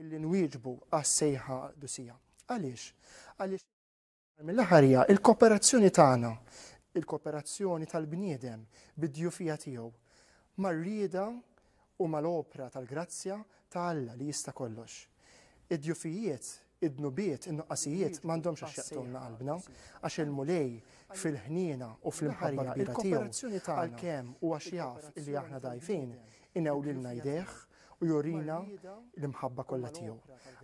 illi nwieġbu għas-sejħa għall-qdusija. Għaliex? Għaliex mill-aħħar hija l-kooperazzjoni tagħna, il-kooperazzjoni tal-bniedem bid-djufija tiegħu mar-rieda u mal-opra tal-grazzja ta' Alla li jista' kollox. Id-djufijiet, id-dnubiet, in-nuqqasijiet m'għandhomx għax jaqtulna qalbna, għax il-Mulej fil-ħniena u fl-imħarja kbira tiegħu għalkemm u għax jaf li aħna dajfin, Inewlilna jdejh u jurina l-imħabba kollha tiegħu.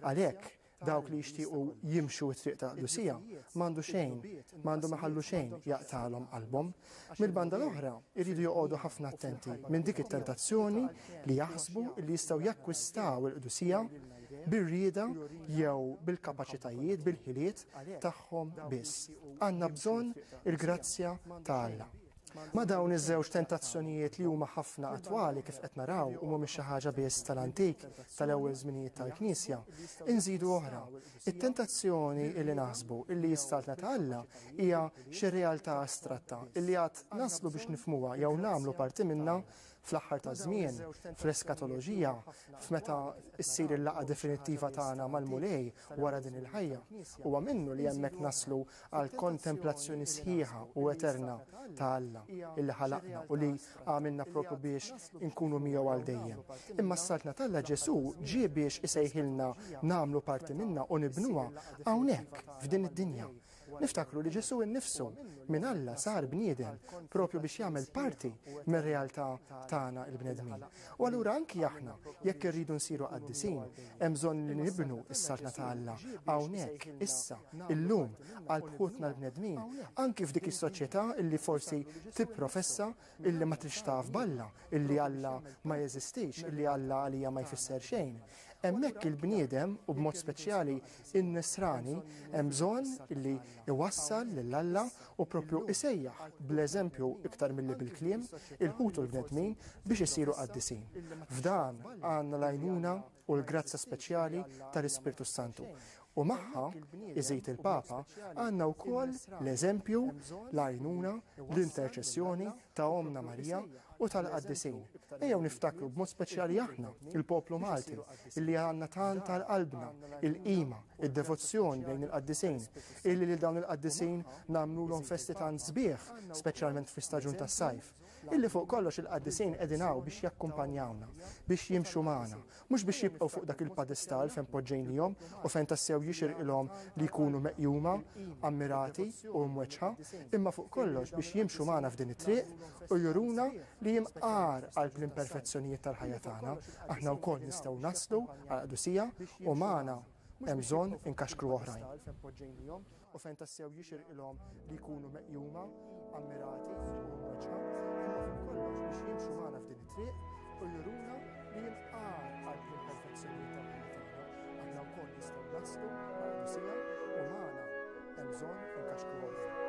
Għalhekk, dawk li jixtiequ jimxu t-triq ta' qdusija, m'għandu xejn, m'għandhom iħallu xejn jaqtagħlhom qalbhom. Mill-banda l-oħra, iridu joqogħdu ħafna attenti minn dik it-tentazzjoni li jaħsbu li jistgħu jakkwistaw il-qdusija bir-rieda jew bil-kapaċitajiet, bil-ħiliet tagħhom biss. Għandna bżonn il-grazzja ta' Alla. Ma' dawn iż-żewġ tentazzjonijiet li huma ħafna attwali kif qed naraw u mhumiex xi ħaġa biss tal-antik, tal-ewwel żminijiet tal-Knisja, inżidu oħra, it-tentazzjoni illi naħsbu illi s-Saltna ta' Alla hija xi realtà astratta illi għad naslu biex nifhmuha jew nagħmlu parti minnha Fl-aħħar taż-żmien, fl-eskatoloġija, f'meta ssir il-laqgħa definittiva tagħna mal-Mulej wara din il-ħajja, huwa minnu li hemmhekk naslu għal kontemplazzjoni sħiħa u eterna ta' Alla, illi ħalaqna u li għamilna proprju biex inkunu miegħu għal dejjem. Imma s-Saltna t'Alla Ġesù ġie biex isejħilna nagħmlu parti minnha u nibnuha hawnhekk, f'din id-dinja, Niftakru li Ġesù nnifsu minn Alla sar bniedem proprju biex jagħmel parti mir-realtà tagħna l-bnedmin. U allura anki aħna, jekk irridu nsiru qaddisin, hemm bżonn li nibnu s-saltna ta' Alla hawnhekk, issa, illum, qalb ħutna l-bnedmin, anki f'dik is-soċjetà li forsi tipprofessa illi ma tridx taf b'Alla, illi Alla ma jeżistix, illi Alla għalija ma jfisser xejn. Hemmhekk il-bniedem, u b'mod speċjali in-Nisrani, hemm bżonn illi iwassal lil Alla u proprju isejjaħ bl-eżempju iktar milli bil-kliem il-ħut u l-bnedmin biex isiru qaddisin. F'dan għandna l-għajnuna u l-grazzja speċjali tal-Ispirtu s-Santu. U magħha, iżid il-Papa, għandna wkoll l-eżempju, l-għajnuna, l-interċessjoni ta' Ommna Marija u tal-qaddisin. Ejjew niftakru b'mod speċjali aħna, il-poplu Malti, illi għandna tant għal qalbna, il-qima, id-devozzjoni lejn il-qaddisin, illi lil dawn il-qaddisin nagħmlulhom festi tant sbieħ, speċjalment fi staġun tas-sajf. Illi fuq kollox il-qaddisin qegħdin hawn biex jakkumpanjawna, biex jimxu magħna, mhux biex jibqgħu fuq dak il-padestall fejn poġġejnihom u fejn tassew jixirqilhom li jkunu meqjuma, ammirati u mweġġħa, imma fuq kollox biex jimxu magħna f'din it-triq u juruna li hemm għar qalb l-imperfezzjonijiet tal-ħajja tagħna, aħna wkoll nistgħu naslu għall-qdusija u magħna hemm bżonn inkaxkru oħrajn. u fejn tassew jixirqilhom li jkunu meqjuma, ammirati u mweġġa, imma fuq kollox biex jimxu magħna f'din it-triq u juruna li jinqal qalb l-imperfezzjonijiet tal-ħajja tagħna, aħna wkoll nistgħu naslu mal-qdusija u magħna hemm bżonn inkaxkru oħrajn.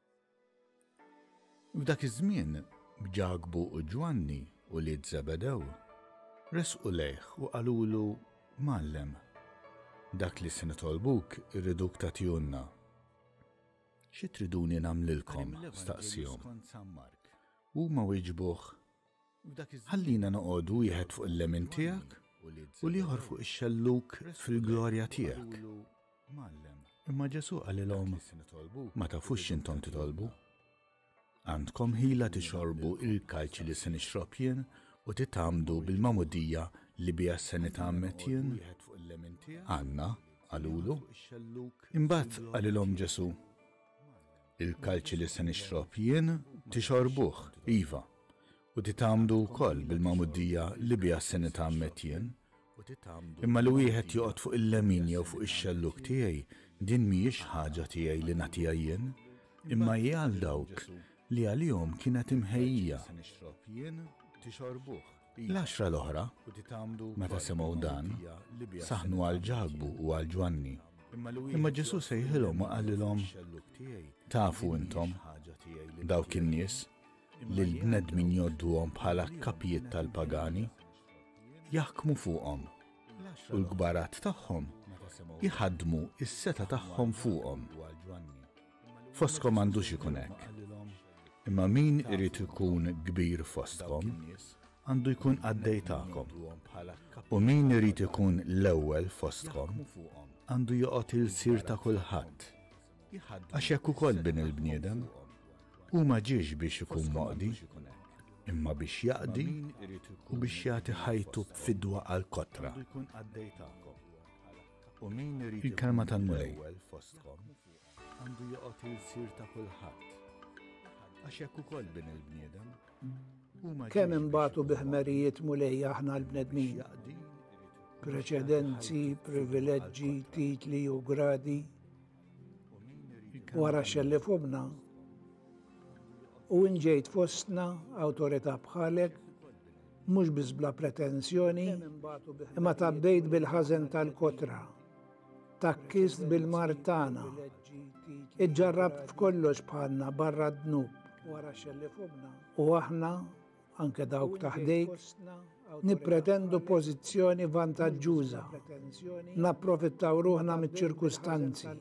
F'dak iż-żmien, Ġakbu u Ġwanni, ulied Żebedew, resqu lejh u qalulu, Mgħallem, dak li se nitolbuk irriduk tagħtihulna. Xi triduni nagħmlilkom? staqsiehom. Huma wieġbuh, Ħallina noqogħdu wieħed fuq il-lemin tiegħek u l-ieħor fuq ix-xellug fil-glorja tiegħek. Imma Ġesù qalilhom, Ma tafux x'intom titolbu. Għandkom ħila tixorbu il-kalċi li se nixrob jien u titgħammdu bil-magħmudija li biha se nitgħammed jien? Għandna, qalulu. Imbagħad qalilhom Ġesù, Il-kalċi li se nixrob jien tixorbuh, iva, u titgħammdu wkoll bil-magħmuddija li biha se nitgħammed jien, imma li wieħed joqgħod fuq il-lemin jew fuq ix-xellug tiegħi, din mhijiex ħaġa tiegħi li nagħtiha jien, imma hi għal dawk li għalihom kienet imħejjija. L-għaxra l-oħra, meta semgħu dan, saħnu għal Ġakbu u għal Ġwanni. Imma Ġesu sejħilhom u qalilhom, Tafu intom, dawk in-nies, li l-bnedmin jgħodduhom bħala kapijiet tal-pagani, jaħkmu fuqhom u l-kbarat tagħhom jħaddmu is-seta tagħhom fuqhom. Foskom għandux ikun hekk. Imma min irid ikun kbir fostkom għandu jkun għaddej tagħkom. U min irid ikun l-ewwel fostkom għandu joqgħod il-sir ta' kulħadd. Għax hekk ukoll Bin il-bniedem hu ma ġiex biex ikun moqdi, imma biex jaqdi u biex jagħti ħajtu b'fidwa għall-kotra. Il-kelma tal-Mulej. Għandu joqgħod il-sir ta' kulħadd. Għax hekk ukoll Bin il-bniedem Kemm imbagħtu bi ħmerijiet mulej aħna l-bnedmin. Preċedenzi, privileġġi, titli u gradi. Wara xelli fumna. U inġejt fostna awtorità bħalek mhux biss bla pretensjoni, imma tabbejt bil-ħażen tal-kotra. Takkist bil-mard tagħna. Iġġarrabt f'kollox bħalna barra d-dnub. U aħna, anke dawk ta' ħdejk, nippretendu pożizzjoni vantaġġuża. Napprofittaw ruħna miċ-ċirkustanzi.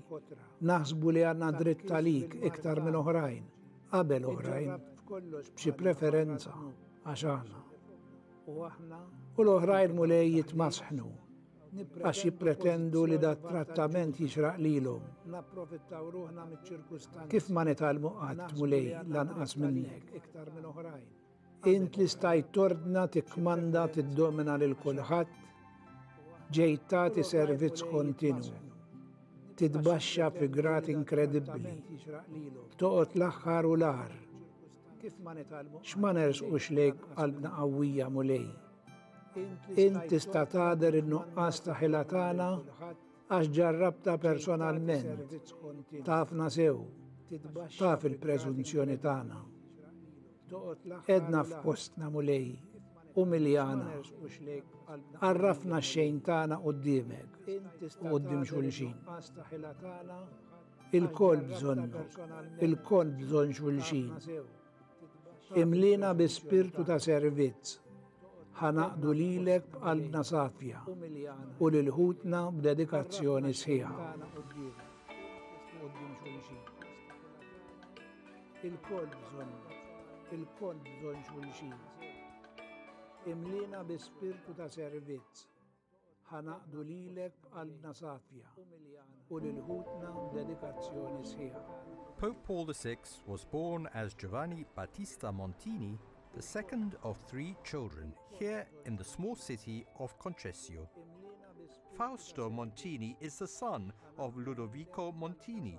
Naħsbu li għandna dritt għalik iktar minn oħrajn, qabel oħrajn, b'xi preferenza għax aħna. U l-oħrajn mulej jitmasħnu. għax jippretendu li dat-trattament jixraq lilhom. Napprofittaw ruħna miċ-ċirkustanzi. Kif ma nitgħallmu qatt, Mulej, lanqas minnek? Int li stajt tordna, tikkmanda, tiddomina lil kulħadd, ġejt tagħti servizz kontinwu titbaxxa fi grat inkredibbli. Toqgħod l-aħħar u l-ar. X'ma nersqux lejk qalbna qawwija mulej. Int tista' tagħder in-nuqqas ta' ħila tagħna għax ġarrabta personalment. Tafna sew, taf il-preżunzjoni tagħna. Edna f'postna mulej, u miljana. Arrafna xejn tagħna qudiemek, u qudiem xulxin. Il-kol bżonnu, il-kol bżonn xulxin. Imlina bi spirtu ta' servizz. Ħanaqdu lilek b'qalbna safja u lil ħutna b'dedikazzjoni sħiħa. Il-koll bżonn, il-koll bżonn xulxin. Imlina bi spirtu ta' servizz. Ħa ngħaqqdu lilek b'qalbna safja u lil ħutna b'dedikazzjoni sħiħa. Pope Paul VI was born as Giovanni Battista Montini, the second of three children, here in the small city of Concessio. Fausto Montini is the son of Ludovico Montini,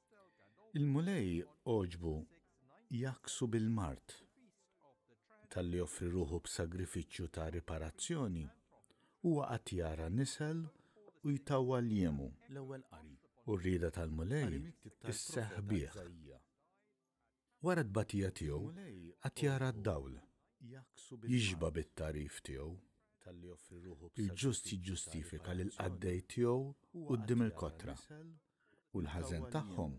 Il-Mulej għoġbu jgħakksu bil-mard talli offri ruħu b'sagrifiċċju ta' riparazzjoni, huwa qatt jara nisel u jtawwal l-jemu, u r-rieda tal-Mulej isseħħ bih. Wara t-tbatija tiegħu għad jara d-dawl. Jixba' bit-tagħrif tiegħu. Il-ġust jiġġustifika lill-qaddej tiegħu quddiem il-kotra, u l-ħażen tagħhom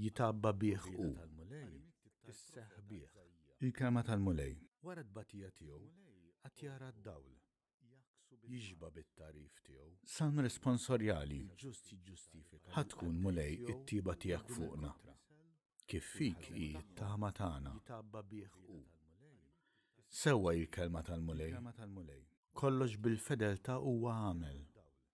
jitgħabba bih hu. Il-kelma tal-Mulej. Wara t-tbatija tiegħu għad jara d-dawl. jixba' bit-tagħrif tiegħu. Salm responsorjali Ħa tkun, Mulej, it-tjieba tiegħek fuqna, kif fik hi t-tama tagħna. Sewwa hi l-kelma tal-Mulej, kollox bil-fedeltà huwa għamel,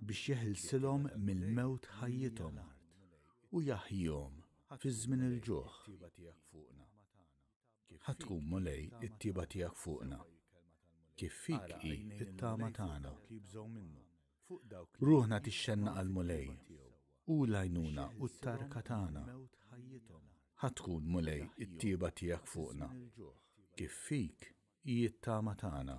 biex jeħilsilhom mill-mewt ħajjithom u jaħjihom fi żmien il-ġuħ. Ħa tkun, Mulej, it-tjieba tiegħek fuqna, kif fik hi t-tama tagħna. Ruħna tixxenna għall-Mulej, hu l-għajnuna u t-tarka tagħna. Ħa tkun, Mulej, it-tjieba tiegħek fuqna, kif fik hi t-tama tagħna.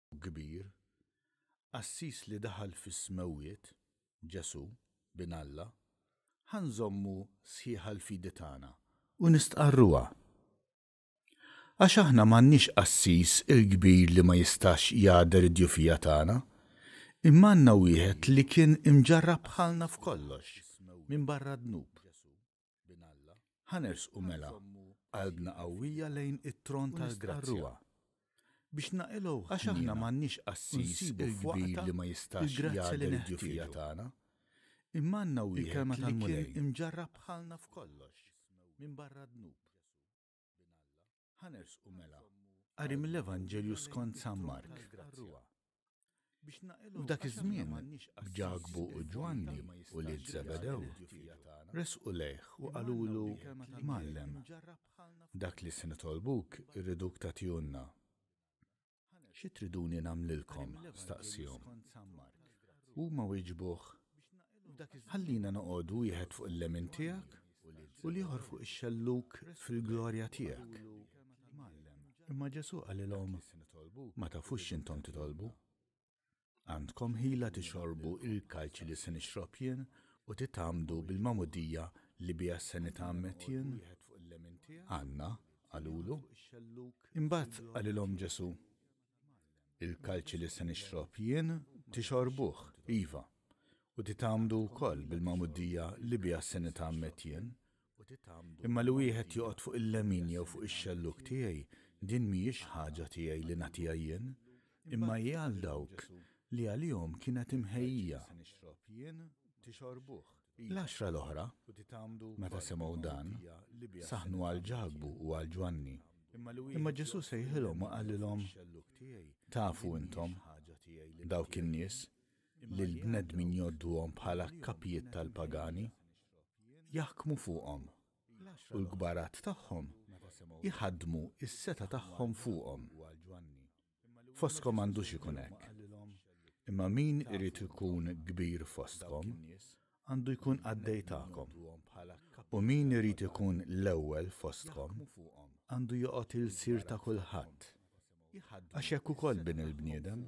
kbir, qassis li daħal fis-smewwiet, Ġesù, Bin Alla, ħa nżommu sħiħa l-fidi tagħna u nistqarruha. Għax aħna m'għandniex qassis il-kbir li ma jistax jagħder id-djufija tagħna, imma għandna wieħed li kien imġarrab bħalna f'kollox, minbarra d-dnub. Ħa nersqu mela qalbna qawwija lejn it-tron tal-grazzja biex naqilgħu ħniena u nsibu f'waqtha l-grazzja li neħtieġu. Imma għandna wieħed li kien imġarrab bħalna f'kollox, minbarra d-dnub. Ħa nersqu mela qari mill-Evanġelju skont San Mark. F'dak iż-żmien, b'Ġakbu u Ġwanni, ulied Żebedew, resqu lejh u qalulu, Mgħallem, dak li se nitolbuk irriduk tagħtihulna. Xi triduni nagħmlilkom? staqsiehom. Huma wieġbuh, Ħallina noqogħdu wieħed fuq il-lemin tiegħek u l-ieħor fuq ix-xellug fil-glorja tiegħek. Imma Ġesù qalilhom, Ma tafux x'intom titolbu. Għandkom ħila tixorbu l-kalċi li se nixrob jien u titgħammdu bil-magħmudija li biha se nitgħammed jien? Għandna, qalulu. Imbagħad qalilhom Ġesù, Il-kalċi li se nixrob jien tixorbuh, iva, u titgħammdu wkoll bil-magħmudija li biha se nitgħammed jien, Imma li wieħed joqgħod fuq il-lemin jew fuq ix-xellug tiegħi, din mhijiex ħaġa tiegħi li nagħtiha jien, imma hi għal dawk li għalihom kienet imħejjija. L-għaxra l-oħra, meta semgħu dan, saħnu għal Ġakbu u għal Ġwanni. Imma Ġesù sejħilhom u qalilhom, Tafu intom, dawk in-nies, li l-bnedmin jgħodduhom bħala kapijiet tal-pagani, jaħkmu fuqhom, u l-kbarat tagħhom jħaddmu s-setgħa tagħhom fuqhom. Fostkom m'għandux ikun hekk. Imma min irid ikun kbir fostkom għandu jkun qaddej tagħkom, u min irid ikun l-ewwel fostkom għandu joqgħod il-sir ta' kulħadd. Għax hekk ukoll bin il-bniedem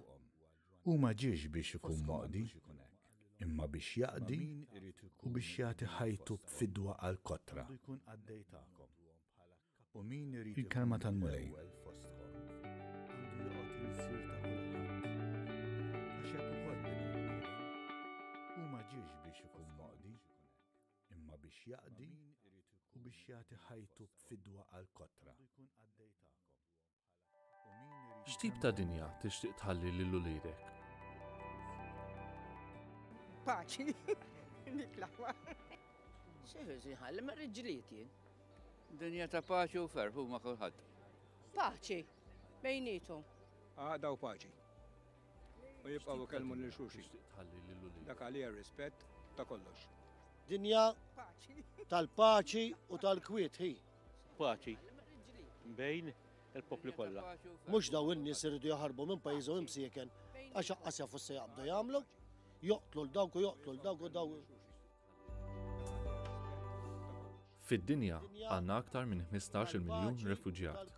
hu ma ġiex biex ikun moqdi, imma biex jaqdi u biex jagħti ħajtu b'fidwa għall-kotra. Il-Kelma tal-Mulej. Hu ma ġiex biex ikun moqdi, imma biex jaqdi u biex jagħti ħajtu b'fidwa għall-kotra. X'tip ta' dinja tixtieq tħalli lil uliedek? Paċi, dik l-aħwa. Xeħiż jħalli ma riġliet jien. Dinja ta' paċi u ferħ huma kulħadd. Paċi, bejnietom. Għada u paċi. U jibqgħu kelmu lil xuxi. Tħalli lil uliedek. Dak għalija rispett ta' kollox. Dinja tal-paċi u tal-kwiet hi. Paċi bejn il-popli kollha. Mhux daw in-nies iridu jaħarbu minn pajjiżhom imsieken għax aqqas jafu se jaqbdu jagħmlu, joqtlu l dawk u joqtlu l dawk u dawk. Fid-dinja għandna aktar minn 15 miljun refuġjat.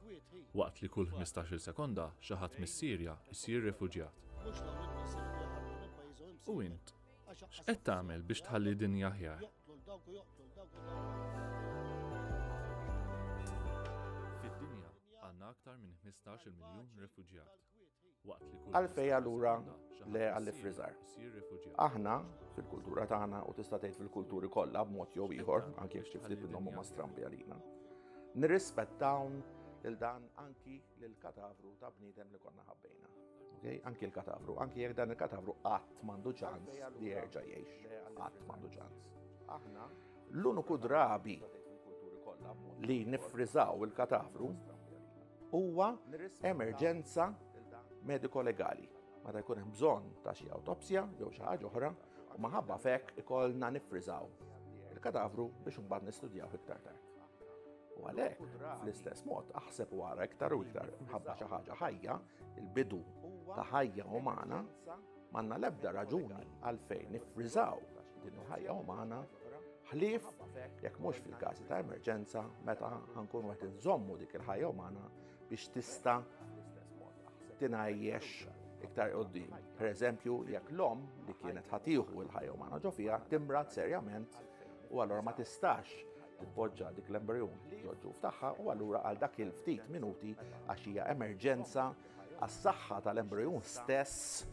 Waqt li kull 15 sekonda xi ħadd mis-Sirja jsir refuġjat. U int, X'qed tagħmel biex tħalli dinja aħjar? Fid-dinja għandna aktar minn 15 miljun refuġjat. Għalfej allura le għalli frizar. Aħna fil-kultura tagħna u tista' tgħid fil-kulturi kollha b'mod jew ieħor, anke jekk xi ftit minnhom huma strambi għalina. Nirrispettawn il dan anki lill-katavru ta' bniedem li konna ħabbejna. Okay? Anki l-katavru, anki jekk dan il-katavru qatt m'għandu ċans li jerġa' jgħix, qatt m'għandu ċans. Aħna l-uniku drabi li nifrizaw il-katavru huwa emerġenza mediko-legali. Meta jkun hemm bżonn ta' xi autopsja jew xi ħaġa oħra, u maħabba fek ikollna nifrizaw il-katavru biex imbagħad nistudjaw iktar tard. U għalhekk, fl-istess mod, aħseb u għara iktar u iktar mħabba xi ħaġa ħajja, il-bidu ta' ħajja umana, manna lebda raġuni għalfejn nifrizaw din il-ħajja umana ħlief jekk mhux fil-każi ta' emerġenza meta ħankun qed inżommu dik il-ħajja umana biex tista' tingħajjex iktar qoddim. Per eżempju, jekk l-om li kienet ħatiħu il-ħajja umana ġo fiha timrat serjament u allora ma tistax titpoġġa dik l-embryon ġoġġu ftaħħa u allura għal dak il-ftit minuti għax hija emerġenza għas-saħħa tal-embryon stess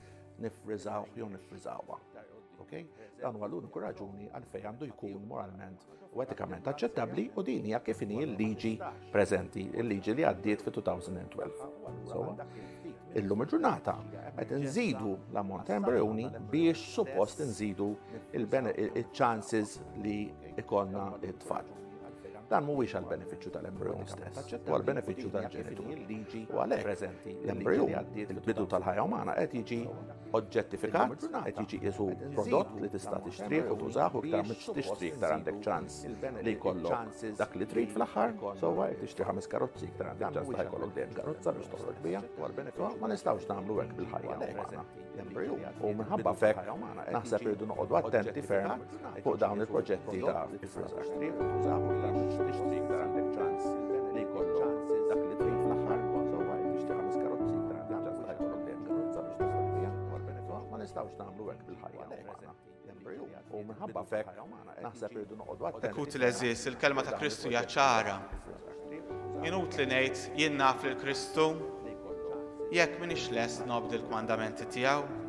nifriżaw jew nifriżawha. Okay? Dan huwa l-uniku raġuni għalfejn għandu jkun moralment u etikament aċċettabbli u din hija kif inhi l-liġi preżenti, il-liġi li għaddiet fi 2012. So, illum il-ġurnata qed nżidu l-ammont ta' embrjoni biex suppost nżidu il-chances li ikollna t-tfal. Dan mhuwiex għal benefiċċju tal-embrjoni stess, u għal benefiċċju tal-ġenitur. U għalhekk l-embrjon, il-bidu tal-ħajja umana qed jiġi oġġettifikat, qed jiġi qisu prodott li tista' tixtrih u tużah u iktar mhux tixtrih iktar għandek ċans li jkollok dak li trid fl-aħħar, sewwa qed tixtri ħames karozzi iktar għandek ċans li jkollok dejjem karozza biex toħroġ biha. Ma nistgħux nagħmlu hekk bil-ħajja umana. U minħabba fek, naħseb irridu noqogħdu attenti ferm fuq dawn il-proġetti ta' nistgħux nagħmlu hekk bil-ħajja. U minħabba fek, naħseb irridu noqogħdu attenti. Ikut l-eżis, il-kelma ta' Kristu hija ċara. Inut li ngħid jien naf lil Kristu jekk minix lest nobdi l-kmandamenti tiegħu.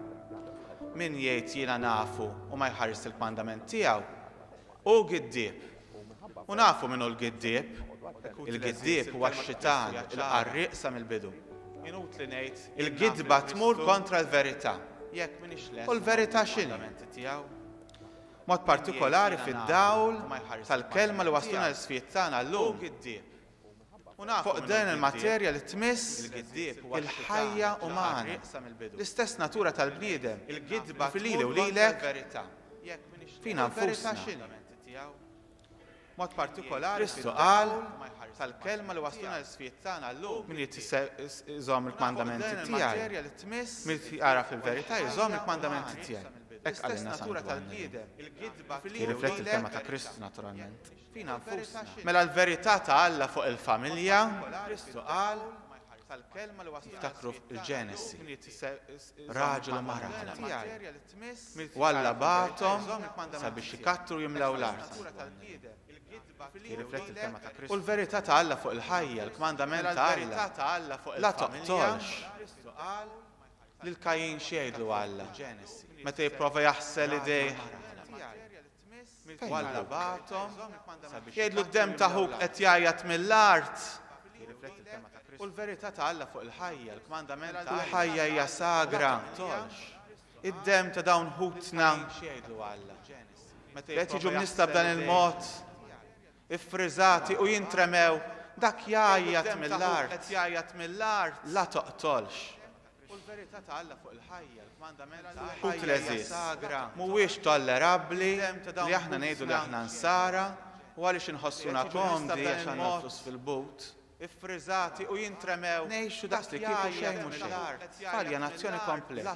Min jgħid jiena nafu u ma jħares il-kmandament tiegħu, Hu giddieb. U nafu min hu l-giddieb. Il-giddieb huwa x-xitan, il-qarrieq sa mill-bidu. Il-gidba tmur kontra l-verità. U l-verità x'inhi? B'mod partikolari fid-dawl tal-Kelma li wasluna l-isfjiet tagħna llum, Fuq din il-materja li tmiss il-ħajja umana, l-istess natura tal-bniedem, fi lili u lilek, fina nfusna. Kristu qal, Min irid iżomm il-kmandamenti tiegħi, min irid jagħraf il-verità jżomm il-kmandamenti tiegħi. Hekk qalilna San Ġwann. Jirrifletti l-kelma ta' Kristu naturalment. fina nfusna. Mela l-verità ta' Alla fuq il-familja, Kristu qal, Ftakru fil-Ġenesi, raġel u mara bħala tiegħi. U Alla bagħathom sabiex ikattru u jimlew l-art. Jirrifletti l-kelma ta' Kristu. U l-verità ta' Alla fuq il-ħajja, l-kmandament ta' Alla, la toqtolx. Lil Kajin x'jgħidlu Alla meta jipprova jaħsel idejh? u Alla bagħathom sabiex jgħidlu d-demm ta' ħuk qed jgħajjat mill-art. U l-verità ta' Alla fuq il-ħajja, l-kmandament ta' il-ħajja hija sagra, ma taqtolx. Id-demm ta' dawn ħutna, qed jiġu mnista b'dan il-mod, iffriżati u jintremew dak jgħajjat mill-art la toqtolx u tleżiż mhuwiex tollerabbli li aħna ngħidu li aħna nsara u għaliex inħossuna komdi għax għandna l-flus fil-but ngħixu daqs li kieku xejn mhu xejn bħal ja nazzjoni kompleta.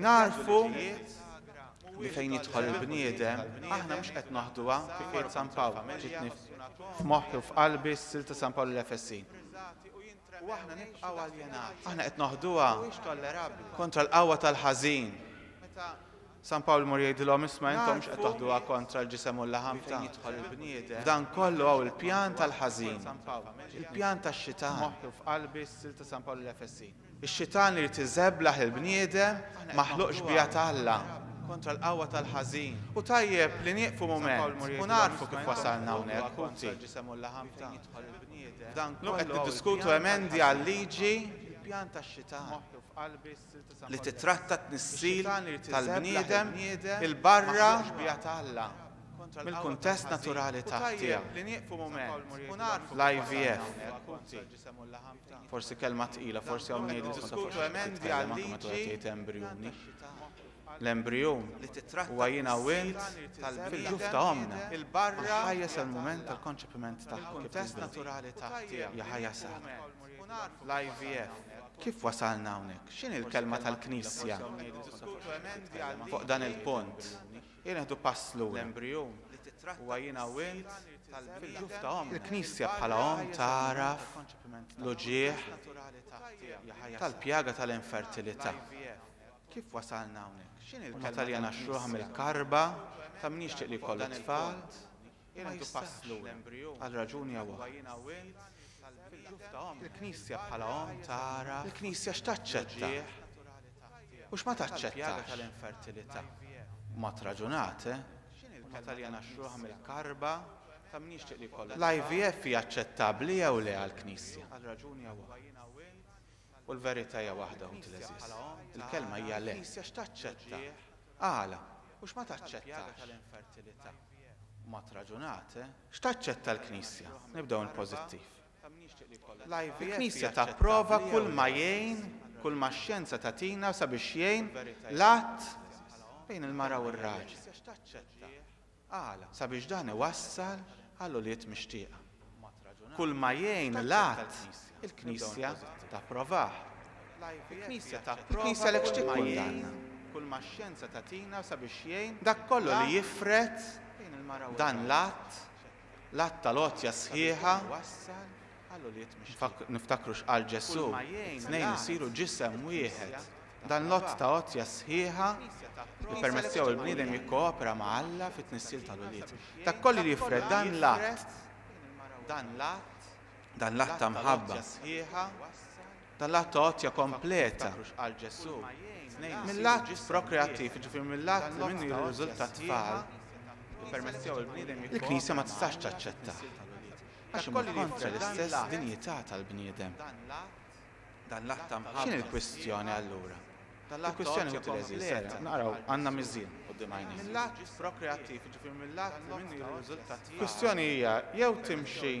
Nagħrfu li fejn jidħol il-bniedem, aħna mhux qed naħduha kif jgħid San Pawl, ġietni f'moħħi u f'qalbi s-sil ta' San Pawl lill-Efesin. U aħna nibqgħu aljenati. Aħna qed naħduha kontra l-qawwa tal-ħażin. San Pawl imur jgħidilhom isma' intom mhux qed taħduha kontra l-ġisem u l-laħam ta' jidħol il-bniedem. Dan kollu hawn il-pjan tal-ħażin. Il-pjan tax-xitan. F'moħħi u f'qalbi s-sil ta' San Pawl lill-Efesin. Ix-xitan irid iżeblaħ il-bniedem maħluq xbieha ta' Alla kontra l-qawwa tal-ħażin. Hu tajjeb li nieqfu mument u nagħrfu kif wasalna hawnhekk, ħuti. Llum qed niddiskutu emendi għal-liġi li tittratta t-tnissil tal-bniedem 'il barra mill-kuntest naturali tiegħu, l-IVF. Forsi kelma tqila, forsi hawn ngħidlu tkun taf għax qed titkellem anke meta wieħed jgħid embrijuni. L-embrijun huwa jiena u int fil-ġuf ta' ommna. Għax ħajja sa l-mument tal-konċepiment tagħha kif nilbnu. Hija ħajja saħħa. L-IVF. Kif wasalna hawnhekk? X'inhi l-kelma tal-Knisja fuq dan il-punt? Ejja neħdu pass lura. L-embrijun li titratta huwa jiena u int fil-ġuf ta' ommna. Il-Knisja bħala omm tagħraf l-uġigħ tal-pjaga tal-infertilità. Kif wasalna hawnhekk? X'inhi l-kelma tal-Jena? Omm Taljana xruħa mill-karba ta' min jixtieq li jkollu t-tfal. Jingħaddu pass lura, għal raġuni jew oħra. Il-Knisja bħala omm tagħraf. Il-Knisja x'taċċetta u x'ma taċċettax. B'mod raġunat, eh? Huma Taljana xruħ mill-karba ta' min jixtieq li jkollu. L-IVF hija aċċettabbli jew le għall-Knisja? U l-verità hija waħda, ħuti l-għeżież. Il-kelma hija le. Il-Knisja x'taċċetta? Għala? U x'ma taċċettax? Ma traġunat, eh? X'taċċetta l-Knisja? Nibdew mill-pożittiv. Il-Knisja tapprova kull ma jgħin, kull ma x-xjenza tagħtina sabiex jgħin l-għadd bejn il-mara u r-raġel. Qal, sabiex dan iwassal għal ulied mixtieqa. Kulma jgħin l-għadd, il-Knisja tapprovah. Il-Knisja għalhekk x'tikkundanna? Kulma x-xjenza tagħtina sabiex jgħin dak kollu li jifred dan l-għadd, l-għadd tal-għotja sħiħa, Niftakru x'qal Ġesù, It-tnejn isiru ġisem wieħed. Dan l-għodd ta' għotja sħiħa jippermett tiegħu l-bniedem jikkoopera ma' Alla fit-tnissil tal-ulied. Dak kollu li jifred dan l-att, dan l-att ta' mħabba, dan l-att ta' għotja kompleta, mill-att prokreattiv, jiġifieri mill-att li minnu jirriżulta t-tfal, il-Knisja ma tistax taċċettah. Għax imur kontra l-istess dinjità tal-bniedem. X'inhi l-kwistjoni allura? Il-kwistjoni ħuti l-għeżież, serraq, naqraw, għandna miżien quddiem għajnejna. Il-kwistjoni hija jew timxi,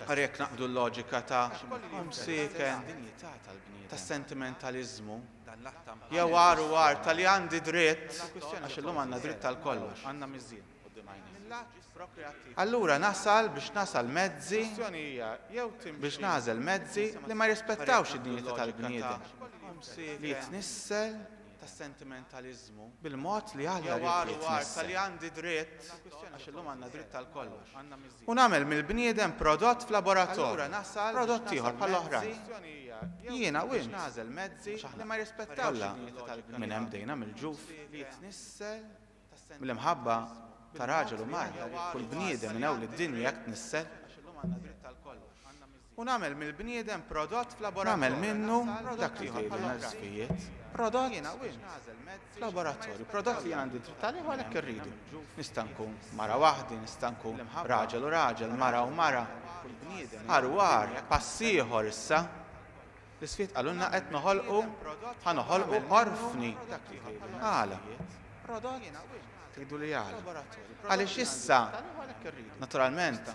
ara jekk naqbdu l-loġika ta' home sicken, tas-sentimentaliżmu, jew agħar u agħar ta' li għandi dritt, għax illum għandna dritt għal kollox. mill-att prokreattiv. Allura nasal biex nasal mezzi, biex nagħżel mezzi li ma jirrispettawx id-dinjità tal-bniedem, li jitnissel bil-mod li Alla jrid jitnissel, u nagħmel mill-bniedem prodott f'laboratorju, prodott ieħor bħall-oħrajn. Jiena u int, għax aħna kollha minn hemm bdejna mill-ġuf. Mill-imħabba ta' raġel u marha, kull bniedem minn hawn lid-dinja jekk tnissel. U nagħmel mill-bniedem prodott f'laboratorju. Nagħmel minnu dak li jħobb bħala l-ħsibijiet, prodott jiena u int, f'laboratorju, prodott li jien għandi dritt għalih u għalhekk irridu. Nista' nkun mara waħdi, nista' nkun raġel u raġel, mara u mara, għar u għar, pass ieħor issa. L-isfid qalulna qed noħolqu ħa noħolqu orfni. Għala? Tgħiduli għala? Għaliex issa, naturalment,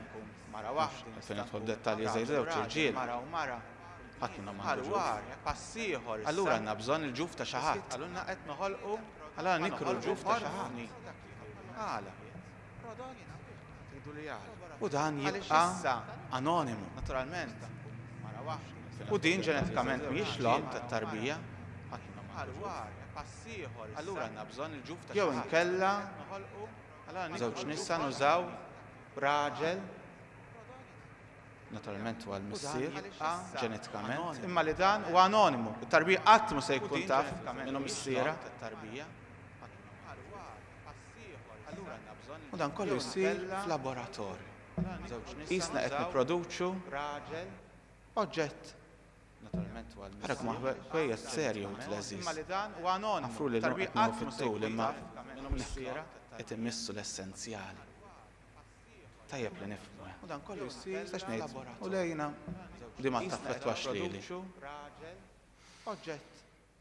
għalfejn nidħol f'dettalji żgħir żewġ irġiel, ħadd minnhom m'għandu ġuf. Allura għandna bżonn il-ġuf ta' xi ħadd. Allura nikru l-ġuf ta' xi ħadd. Għala? prodott tridu li għal u dan jibqa' anonimu naturalment mara waħda u din ġenetikament mhijiex l-omm tat-tarbija bħal war pass ieħor allura għandna bżonn il-ġuf ta' jew inkella żewġ nisa nużaw raġel naturalment huwa l-missier ġenetikament imma li dan huwa anonimu it-tarbija qatt mhu se jkun taf minn hu missiera tat-tarbija u dan kollu jsir f'laboratorju. Qisna qed nipproduċu oġġett ara kemm hu ħwejjeż serju wid l-għeżież. Għafruli llum qed nieħu fit-tul imma hawnhekk qed immissu l-essenzjali. Tajjeb li nifhmu hekk. X'stax ngħid, u lejna di ma taffettwax lili.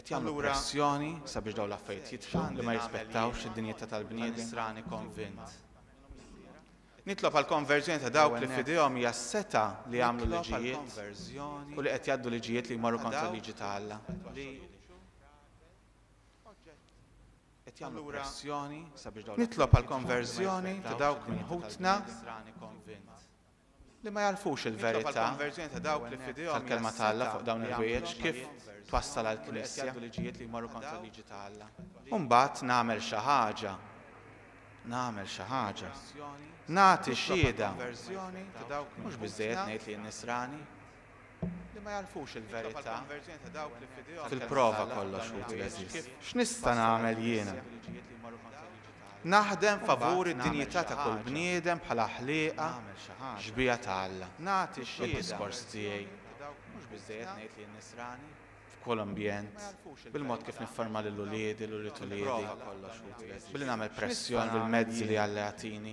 Qed jagħmlu pressjoni sabiex dawn l-affarijiet jitfgħu li ma jirrispettawx id-dinjità tal-bniedem. Nitlob għall-konverżjoni ta' dawk li f'idejhom hija s-setgħa li jagħmlu liġijiet u li qed jgħaddu liġijiet li jmorru kontra l-liġi ta' Alla. Nitlob għall-konverżjoni ta' dawk minn ħutna. li ma jagħrfux il-verità tal-Kelma ta' Alla fuq dawn il-ħwejjeġ kif twassal għall-Knisja. U mbagħad nagħmel xi ħaġa, nagħmel xi ħaġa. Nagħti xhieda. Mhux biżżejjed ngħid li jien Nisrani. li ma jagħrfux il-verità fil-prova kollox ħuti għeżież. X'nista' nagħmel jiena? Naħdem favur id-dinjità ta' kull bniedem bħala ħlieqa xbieha ta' Alla. Nagħti d-diskors tiegħi f'kull ambjent, bil-mod kif nifforma lil uliedi, lil ulied uliedi, billi nagħmel pressjoni bil-mezzi li Alla jagħtini.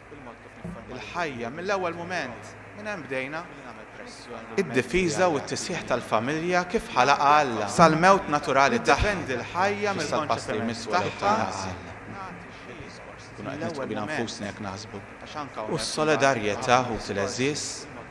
il-ħajja mill-ewwel mument. Minn hemm bdejna. Id-difiża u t-tisħiħ tal-familja kif ħalaqha Alla. Sal-mewt naturali tagħha. Tiddependi l-ħajja mill-konċett li jmiss tagħha. X'issa l-passi li jmiss wara t-tagħżil? Nkunu qed nidħku bina nfusna jekk naħsbu. U s-solidarjetà, ħuti l-għeżież.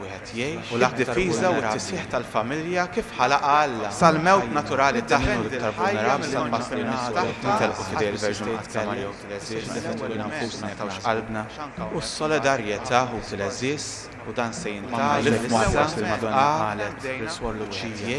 wieħed jgħix, u d-difiża u t-tisħiħ tal-familja kif ħalaqha Alla sal-mewt naturali ta' min hu l-iktar vulnerabbli sal-massa li n-nies kollha jintelqu f'idejn il-Verġni Mqaddsa Marija Ħuti l-Għeżiex li fetħulna nfusna nagħtawx qalbna u s-solidarjetà Ħuti l-Għeżież u dan se jintgħallem issa f'qagħda lil Suor Luċija.